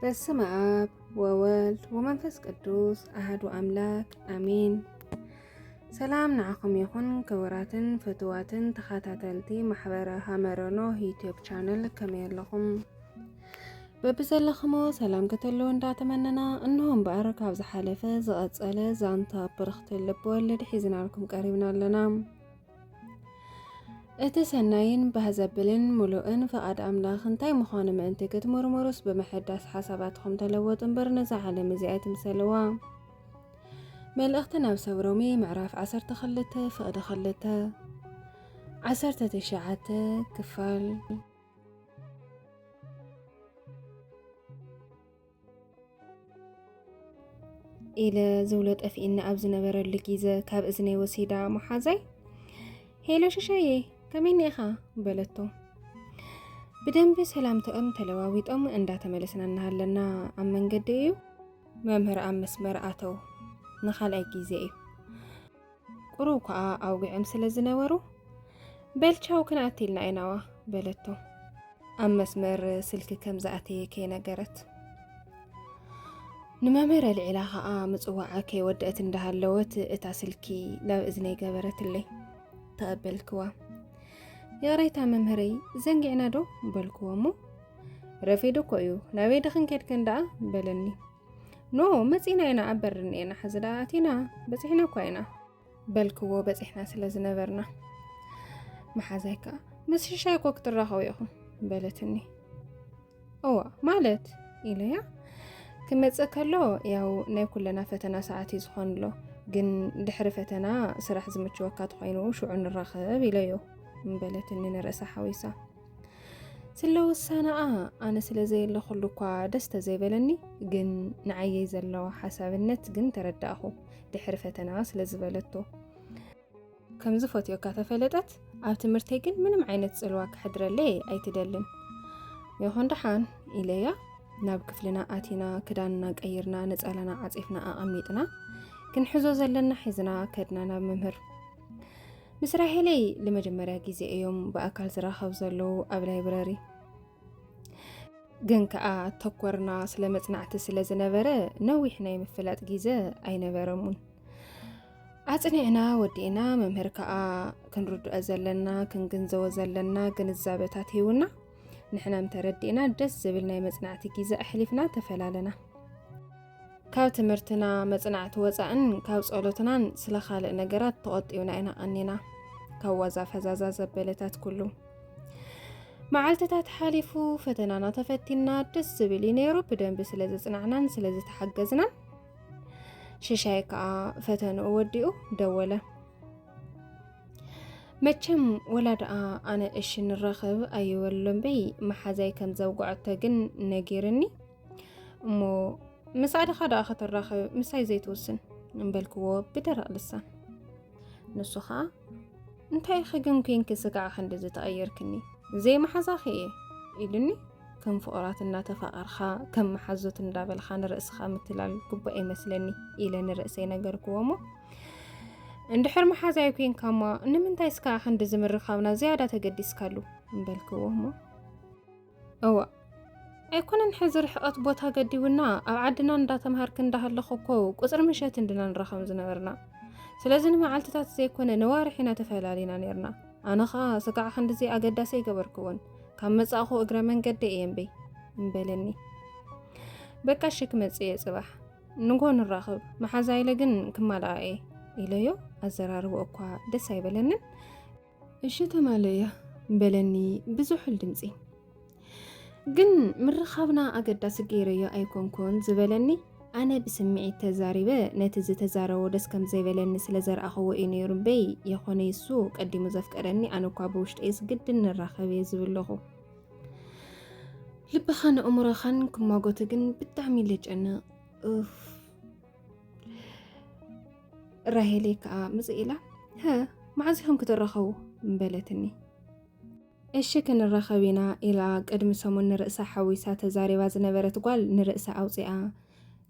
በስመ አብ ወወልድ ወመንፈስ ቅዱስ አህዱ አምላክ አሜን። ሰላም ንዓኹም ይኹን ክቡራትን ፍትዋትን ተኸታተልቲ ማሕበረ ሃመረኖ ዩትዩብ ቻነል ከመይ ኣለኹም? በብዘለኽሞ ሰላም ከተለዉ እንዳተመነና እንሆ እምበኣር ካብ ዝሓለፈ ዝቐጸለ ዛንታ ብርኽቲ ልቢ ወለድ ሒዝናልኩም ቀሪብና ኣለና። እቲ ሰናይን ባህ ዘብልን ምሉእን ፍቓድ ኣምላኽ እንታይ ምዃኑ ምእንቲ ክትምርምሩስ ብምሕዳስ ሓሳባትኹም ተለወጡ እምበር ነዛ ዓለም እዚ ኣይትምሰልዋ። መልእኽቲ ናብ ሰብ ሮሜ ምዕራፍ 12 ፍቕዲ 2 19 ክፋል ኢለ ዝብሎ ጠፍኢኒ ኣብ ዝነበረሉ ግዘ ካብ እዝነይ ወሲዳ መሓዛይ ሄሎ ሽሻዬ ከመይ ኒኢኻ በለቶ። ብደንቢ ሰላምታኦም ተለዋዊጦም እንዳተመለስና እናሃለና ኣብ መንገዲ እዩ መምህር ኣብ መስመር ኣተው ንካልኣይ ግዜ እዩ ቁሩብ ከኣ ኣውግዕም ስለ ዝነበሩ በልቻው ክንኣትልና ኢናዋ በለቶ ኣብ መስመር ስልኪ ከም ዝኣተየ ከይነገረት ንመምህር ኣልዒላ ከኣ ምጽዋዓ ከይወደአት እንዳሃለወት እታ ስልኪ ናብ እዝነይ ገበረትለይ ተቐበልክዋ ይቕሬታ መምህረይ ዘንጊዕና ዶ በልክዎ እሞ ረፊዱ እኮ እዩ ናበይ ድኽን ኬድክን ደኣ በለኒ ኖ መጺና ኢና ኣብ በሪ እኒኤና ሕዚ ደኣ ኣቲና በፂሕና እኳ ኢና በልክዎ በፂሕና ስለ ዝነበርና መሓዛይ ከዓ ምስ ሽሻይ እኮ ክትራኸቡ ኢኹም በለትኒ እዋ ማለት ኢለያ ክመፅእ ከሎ ያው ናይ ኩለና ፈተና ሰዓት እዩ ዝኾን ኣሎ ግን ድሕሪ ፈተና ስራሕ ዝምችወካ ትኾይኑ ሽዑ ንራኸብ ኢለዮ በለትኒ ንርእሳ ሓዊሳ ስለ ውሳነኣ ኣነ ስለ ዘየለኹሉ እኳ ደስ ተዘይበለኒ ግን ንዓየይ ዘለዎ ሓሳብነት ግን ተረዳእኹ ድሕሪ ፈተና ስለ ዝበለቶ ከምዚ ፈትዮካ ተፈለጠት ኣብ ትምህርተይ ግን ምንም ዓይነት ፅልዋ ክሕድረለይ ኣይትደልን ይኹን ደሓን ኢለያ ናብ ክፍልና ኣቲና ክዳንና ቀይርና ነፀላና ዓፂፍና ኣቐሚጥና ክንሕዞ ዘለና ሒዝና ከድና ናብ መምህር ምስ ራሄለይ ንመጀመርያ ግዜ እዮም ብኣካል ዝራኸብ ዘለዉ ኣብ ላይብረሪ ግን ከዓ ተኮርና ስለ መፅናዕቲ ስለ ዝነበረ ነዊሕ ናይ ምፍላጥ ግዜ ኣይነበረሙን ኣፅኒዕና ወዲእና መምህር ከዓ ክንርድኦ ዘለና ክንግንዘቦ ዘለና ግንዛበታት ሂውና ንሕና ተረዲእና ደስ ዝብል ናይ መፅናዕቲ ግዜ ኣሕሊፍና ተፈላለና ካብ ትምህርትና መጽናዕቲ ወጻእን ካብ ጸሎትናን ስለ ካልእ ነገራት ተቖጢብና ኢና ቐኒና ካብ ዋዛ ፈዛዛ ዘበለታት ኩሉ መዓልትታት ሓሊፉ ፈተናና ተፈቲና ደስ ዝብል እዩ ነይሩ ብደንቢ ስለ ዝፅናዕናን ስለ ዝተሓገዝናን ሽሻይ ከዓ ፈተንኡ ወዲኡ ደወለ መቸም ወላ ደኣ ኣነ እሺ ንራኸብ ኣይበሎምበይ መሓዛይ ከም ዘውግዐቶ ግን ነጊርኒ እሞ ምስ ኣደኻ ደኣ ከተራኽብ ምሳይ ዘይትውስን እምበልክዎ ብደረቕ ልሳን ንሱ ኸዓ እንታይ ኢኺ ግን ኮንኪ ስጋዕ ክንዲ ዝተቐየርክኒ ዘይመሓዛኺ እየ ኢሉኒ ከም ፍቕራት እናተፋቐርካ ከም መሓዙት እንዳበልካ ንርእስኻ ምትላል ግቡእ ኣይመስለኒ ኢለ ንርእሰይ ነገርክዎ እሞ እንድሕር መሓዛይ ኮንካ እሞ ንምንታይ ስካዕ ክንዲ ዝምርካብና ዝያዳ ተገዲስካሉ እምበልክዎ እሞ እዋእ ኣይኮነን ሕዚ ርሕቐት ቦታ ገዲቡና ኣብ ዓድና እንዳተምሃርክ እንዳሃለኹ እኮ ቁፅሪ ምሸት እንድና ንራኸም ዝነበርና ስለዚ ንመዓልትታት ዘይኮነ ነዋርሕ ኢና ተፈላሊና ነርና ኣነ ኸዓ ስጋዕ ክንድዚ ኣገዳሲ ኣይገበርክዎን ካብ መጻእኹ እግረ መንገዲ እየ እምበይ እምበለኒ በቃ እሺ ክመጽእ እየ ጽባሕ ንጎ ንራኽብ መሓዛ ኢለ ግን ክማልኣ እየ ኢለዮ ኣዘራርቦ እኳ ደስ ኣይበለንን እሺ ትማል እያ በለኒ ብዙሑል ድምፂ ግን ምርኻብና ኣገዳሲ ገይረዮ ኣይኮንኩን ዝበለኒ ኣነ ብስምዒት ተዛሪበ ነቲ ዝተዛረቦ ደስ ከም ዘይበለኒ ስለ ዘርኣኸዎ እዩ ነይሩ እምበይ የኾነ ይሱ ቀዲሙ ዘፍቀረኒ ኣነ እኳ ብውሽጠይስ ግድን ንራኸብ እየ ዝብለኹ ልብኻን እምሮኻን ክማጎቱ ግን ብጣዕሚ ልጨንቕ ራሄለይ ከዓ ምፅእ ኢላ ሀ መዓዝ ኢኹም ክትራኸቡ በለትኒ። እሺ ክንራኸብ ኢና ኢላ ቅድሚ ሰሙን ንርእሳ ሓዊሳ ተዛሪባ ዝነበረት ጓል ንርእሳ ኣውፂኣ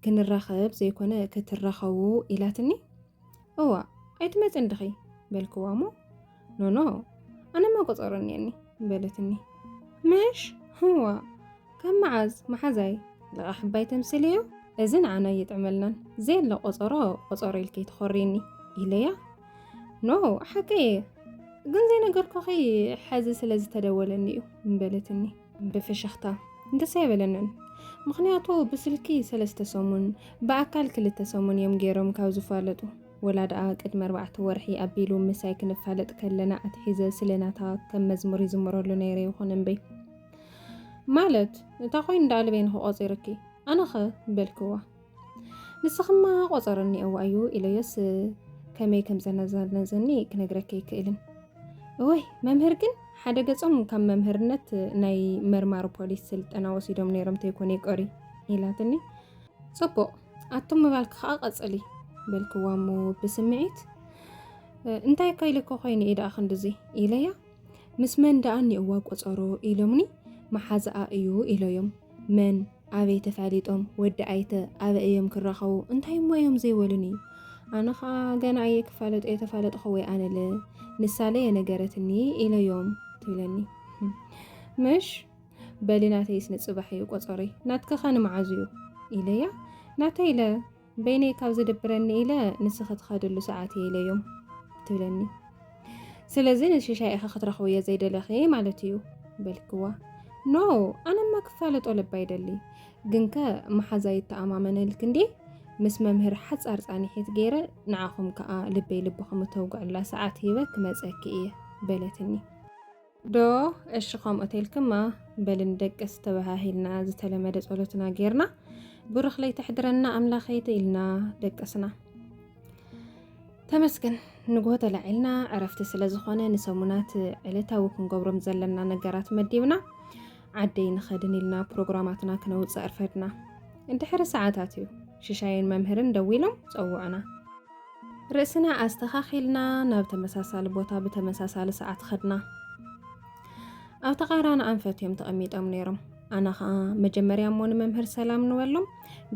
ክንራኸብ ዘይኮነ ክትራኸቡ ኢላትኒ። እዋ ኣይትመፅን ድኺ በልክዋ እሞ ኖኖ ኣነማ ቁፀሩ እኒአኒ በለትኒ ምሽ ህዋ ካብ መዓዝ መሓዛይ ልቓ ሕባይ ተምስል እዩ እዚ ንዓና እይጥዕመልናን ዘየለ ቆፀሮ ቆፀሮ ኢልኪ ትኾሪኒ ኢለያ ኖ ሓቂ እየ ግን ዘይነገርኩኺ ሕዚ ስለ ዝተደወለኒ እዩ በለትኒ ብፍሽኽታ ደስ ኣይበለንን ምክንያቱ ብስልኪ ሰለስተ ሰሙን ብኣካል ክልተ ሰሙን እዮም ገይሮም ካብ ዝፋለጡ ወላ ደኣ ቅድሚ ኣርባዕተ ወርሒ ኣቢሉ ምሳይ ክንፋለጥ ከለና ኣትሒዘ ስለ ናታ ከም መዝሙር ይዝምረሉ ነይረ ይኹን እምበይ ማለት እታ ኮይኑ ደኣ ልበይ ንክቆፂርኪ ኣነኸ በልክዋ ንስኽማ ቆፀር እኒኦዋ እዩ ኢለዮስ ከመይ ከም ዘነዘነዘኒ ክነግረኪ ኣይክእልን እወይ መምህር ግን ሓደ ገጾም ካብ መምህርነት ናይ መርማሪ ፖሊስ ስልጠና ወሲዶም ነይሮም ተይኮነ ይቀሪ ኢላትኒ። ጽቡቕ ኣቱም ምባልኪ ከዓ ቀፅሊ በልክዋ እሞ ብስምዒት እንታይ እኮ ኢልኮ ኮይኑ እዩ ደኣ ክንድዚ ኢለያ ምስ መን ደኣ እኒኦዋ ቆፀሮ ኢሎምኒ መሓዝኣ እዩ ኢሎዮም መን ኣበይ ተፋሊጦም ወዲ ኣይተ ኣበ እዮም ክራኸቡ እንታይ እሞ እዮም ዘይበሉኒ ኣነ ከዓ ገና ኣየ ክፋለጡ የተፋለጥኹ ወይ ኣነለ ንሳለ የነገረትኒ ኢለዮም ትብለኒ ምሽ በሊ ናተይስ ንጽባሕ እዩ ቆጸሮይ ናትክኸ ንመዓዝ እዩ ኢለያ ናተይ ኢለ በይነይ ካብ ዝድብረኒ ኢለ ንስኺ ትኸድሉ ሰዓት እየ ኢለዮም ትብለኒ ስለዚ ንሽሻይ ኢኺ ክትረኽቡ እየ ዘይደለኺ ማለት እዩ በልክዋ ኖ ኣነማ ክፋለጦ ልባ ይደሊ ግንከ መሓዛ ይተኣማመነልክ እንዴ ምስ መምህር ሓፃር ፃኒሒት ገይረ ንዓኹም ከዓ ልበይ ልብኹም እተውግዕላ ሰዓት ሂበ ክመፀኪ እየ በለትኒ ዶ እሺ ከምኡ ተልክማ በል ንደቅስ ተባሃሂልና ዝተለመደ ጸሎትና ጌርና ብሩኽ ለይቲ ሕድረና ኣምላኸይ ተኢልና ደቀስና ተመስገን ንግሆ ተላዒልና ዕረፍቲ ስለ ዝኾነ ንሰሙናት ዕለታዊ ክንገብሮም ዘለና ነገራት መዲብና ዓደይ ንኸድን ኢልና ፕሮግራማትና ክነውፅእ ኣርፈድና እንድሕሪ ሰዓታት እዩ ሽሻይን መምህርን ደዊሎም ፀውዑና ርእስና ኣስተኻኺልና ናብ ተመሳሳሊ ቦታ ብተመሳሳሊ ሰዓት ኸድና። ኣብ ተቓራኒ ኣንፈት እዮም ተቐሚጦም ነይሮም። ኣነ ኸዓ መጀመርያ እሞ ንመምህር ሰላም ንበሎም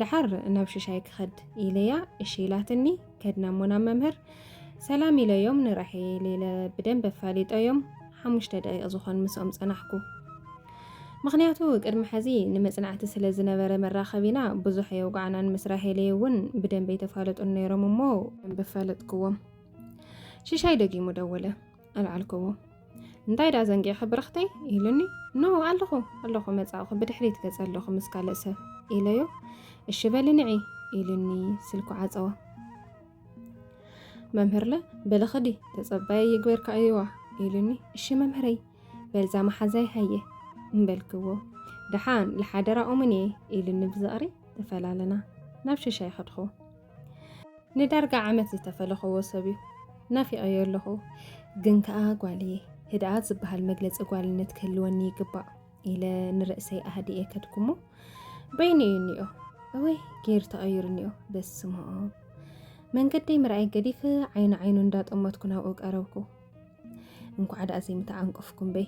ደሓር ናብ ሽሻይ ክኸድ ኢለያ እሺ ኢላትኒ ከድና እሞ ናብ መምህር ሰላም ኢለዮም ንራሒል ኢለ ብደንብ ኣፋሊጠዮም ሓሙሽተ ደቂቕ ዝኾን ምስኦም ጸናሕኩ። ምኽንያቱ ቅድሚ ሐዚ ንመፅናዕቲ ስለ ዝነበረ መራኸቢና ብዙሕ ኣየውግዓናን ምስ ራሄለይ እውን ብደንቢ ኣይተፋለጡን ነይሮም እሞ ደንቢ ኣፋለጥክዎም ሽሻይ ደጊሙ ደወለ ኣልዓልክዎ እንታይ ደኣ ዘንጊዕኺ ብርኽተይ ኢሉኒ ኖ ኣለኹ ኣለኹ መፃእኹ ብድሕሪት ገፀ ኣለኹ ምስ ካልእ ሰብ ኢለዮ እሺ በሊ ንዒ ኢሉኒ ስልኩ ዓፀወ መምህርለ በልኽዲ ተፀባየ ይግበርካ እዩዋ ኢሉኒ እሺ መምህረይ በልዛ መሓዛይ ሃየ እምበልክዎ ደሓን ልሓደራኦምን እየ ኢሉኒ ብዝቕሪ ተፈላለና ናብ ሽሻይ ኸድኹ ንዳርጋ ዓመት ዝተፈለኸዎ ሰብ እዩ ናፊቐዮ ኣለኹ ግን ከኣ ጓል እየ ህድኣት ዝበሃል መግለፂ ጓልነት ክህልወኒ ይግባእ ኢለ ንርእሰይ ኣህድኤ ከድኩሞ በይኑ እዩ እኒኦ እወይ ጌሩ ተቐይሩ እኒኦ በስምኦ መንገደይ ምርኣይ ገዲፍ ዓይኑ ዓይኑ እንዳጠመትኩ ናብኡ ቀረብኩ እንኳዕ ዳኣ ዘይምተዓንቀፍኩም በይ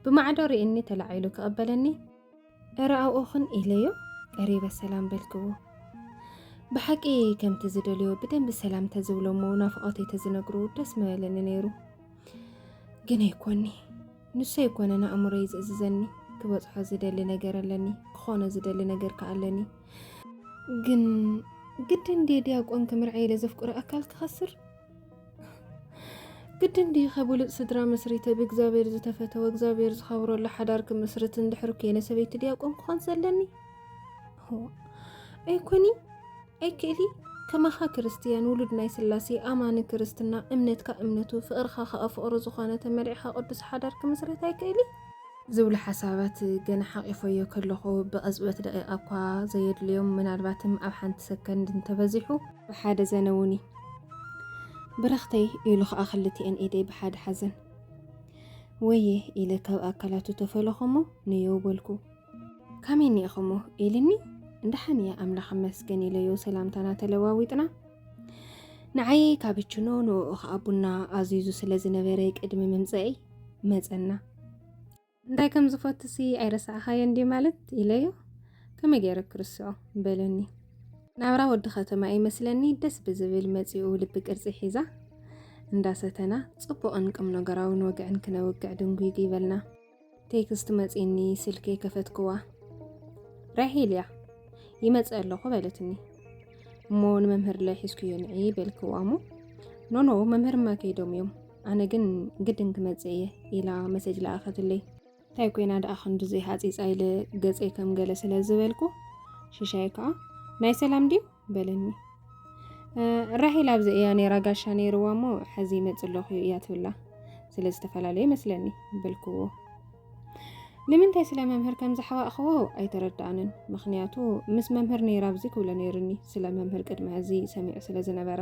ብማዕዶ ርእኒ ተላዒሉ ክቐበለኒ እረ ኣብኦኽን ኢለዮ ቀሪበ ሰላም በልክዎ ብሓቂ ከምቲ ዝደልዮ ብደንቢ ሰላም ተዝብሎ እሞ ናፍቆተይ ተዝነግሩ ደስ ምበለኒ ነይሩ ግን ኣይኮኒ ንሱ ኣይኮነን ኣእምሮይ ዝእዝዘኒ ክበፅሖ ዝደሊ ነገር ኣለኒ ክኾኖ ዝደሊ ነገር ከዓ ኣለኒ ግን ግድን ዴ ዲያቆን ክምርዐ ኢለ ዘፍቅሮ ኣካል ክኸስር ግድን ድዩ ከብሉፅ ስድራ መስሪተ ብእግዚኣብሔር ዝተፈተወ እግዚኣብሔር ዝኸብረሉ ሓዳር ክምስርት እንድሕር ኮይነ ሰበይቲ ዲያቆን ክኾን ዘለኒ ኣይኮኒ ኣይክእሊ ከማኻ ክርስትያን ውሉድ ናይ ስላሴ ኣማኒ ክርስትና እምነትካ እምነቱ ፍቕርኻ ከዓ ፍቕሩ ዝኾነ ተመሪዕኻ ቅዱስ ሓዳር ክምስረት ኣይክእሊ ዝብሉ ሓሳባት ገና ሓቂፎዮ ከለኹ ብቕጽበት ደቂቃ እኳ ዘየድልዮም ምናልባትም ኣብ ሓንቲ ሰከንድ እንተበዚሑ ብሓደ ዘነውኒ ብረኽተይ ኢሉ ኸኣ ክልቲኤን ኢደይ ብሓደ ሓዘን። ወየ ኢለ ካብ ኣካላቱ ተፈለኹሞ ንዮው በልኩ። ካመይ ኒኢኹሞ ኢልኒ እንዳሓን እያ ኣምላኽ ይመስገን ኢለዮ ሰላምታና ተለዋዊጥና። ንዓየይ ካበችኖ ንኡ ኸኣ ቡና ኣዚዙ ስለ ዝነበረ ቅድሚ ምምጸእይ መጸና። እንታይ ከም ዝፈትሲ ኣይረሳዕኻዮ እንዲ ማለት ኢለዮ ከመይ ገይረ ክርስዖ በለኒ ናብራ ወዲ ከተማ እዩ መስለኒ ደስ ብዝብል መጺኡ ልቢ ቅርጺ ሒዛ እንዳሰተና ጽቡቕን ቅም ነገራውን ወግዕን ክነውግዕ ድንጒግ ይበልና ቴክስት መጺኒ ስልኪ ከፈትክዋ ራሒል እያ ይመጽ ኣለኹ በለትኒ እሞ ንመምህር ላይ ሒዝኩዮ ንዒ በልክዋ እሞ ኖኖ መምህርማ ከይዶም እዮም ኣነ ግን ግድን ክመፅእ እየ ኢላ መሰጅ ለኣኸትለይ። እንታይ ኮይና ደኣ ክንድዙይ ሃፂፃ ኢለ ገፀይ ከም ገለ ስለ ዝበልኩ ሽሻይ ከዓ ናይ ሰላም ድዩ በለኒ። ራሄል ኣብዚ እያ ነይራ ጋሻ ነይርዋ እሞ ሕዚ ይመፅእ ኣለኹ እያ ትብላ ስለ ዝተፈላለየ መስለኒ በልክዎ። ንምንታይ ስለ መምህር ከም ዝሓባእኽዎ ኣይተረዳእንን። ምክንያቱ ምስ መምህር ነይራ ኣብዚ ክብሎ ነይሩኒ ስለ መምህር ቅድሚ ሕዚ ሰሚዑ ስለ ዝነበረ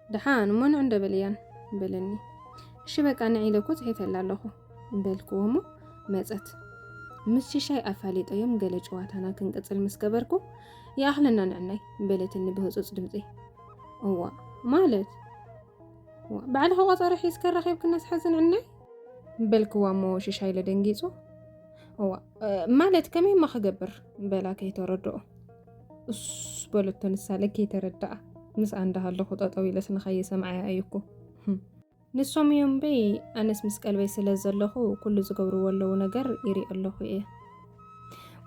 ደሓን እሞ ንዕንዶ በል እያን በለኒ። እሺ በቃ ንዒ ኢለ እኮ ጽሒፈላ ኣለኹ በልክዎ እሞ መጸት። ምስ ሽሻይ ኣፋሊጠዮም ገለ ጨዋታና ክንቅጽል ምስ ገበርኩ ይኣኽለና ንዕናይ በለትኒ ብህጹጽ ድምጺ። እዋ ማለት ባዕልኻ ቆጸረ ሒዝከ ረኺብክና ስሓዝን ዕናይ በልክዋ እሞ ሽሻይ ለደንጊጹ እዋ ማለት ከመይማ ክገብር በላ ከይተረድኦ እሱስ በለቶ ንሳ ለከይ ተረዳኣ ምስኣ እንዳሃለኹ ጠጠው ኢለስ ንኸይሰምዓያ እዩ እኮ ህም። ንሶም እዮም እምበይ ኣነስ ምስ ቀልበይ ስለ ዘለኹ ኩሉ ዝገብርዎ ኣለዉ ነገር ይሪኦ ኣለኹ እየ።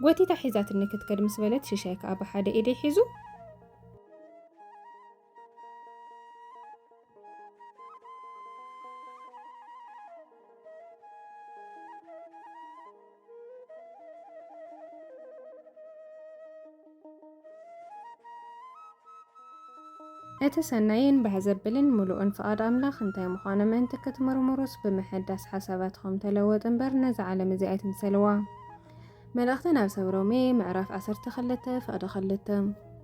ጎቲታ ሒዛትኒ ክትከድ ምስ በለት ሽሻይ ከኣ ብሓደ ኢደይ ሒዙ። እቲ ሰናይን ባህ ዘብልን ምሉእን ፍቓድ ኣምላኽ እንታይ ምዃኑ ምእንቲ ክትምርምሩስ ብምሕዳስ ሓሳባትኹም ተለወጡ እምበር ነዛ ዓለም እዚ ኣይትምሰልዋ። መልእኽቲ ናብ ሰብ ሮሜ ምዕራፍ ዓሰርተ ክልተ ፍቕዲ ክልተ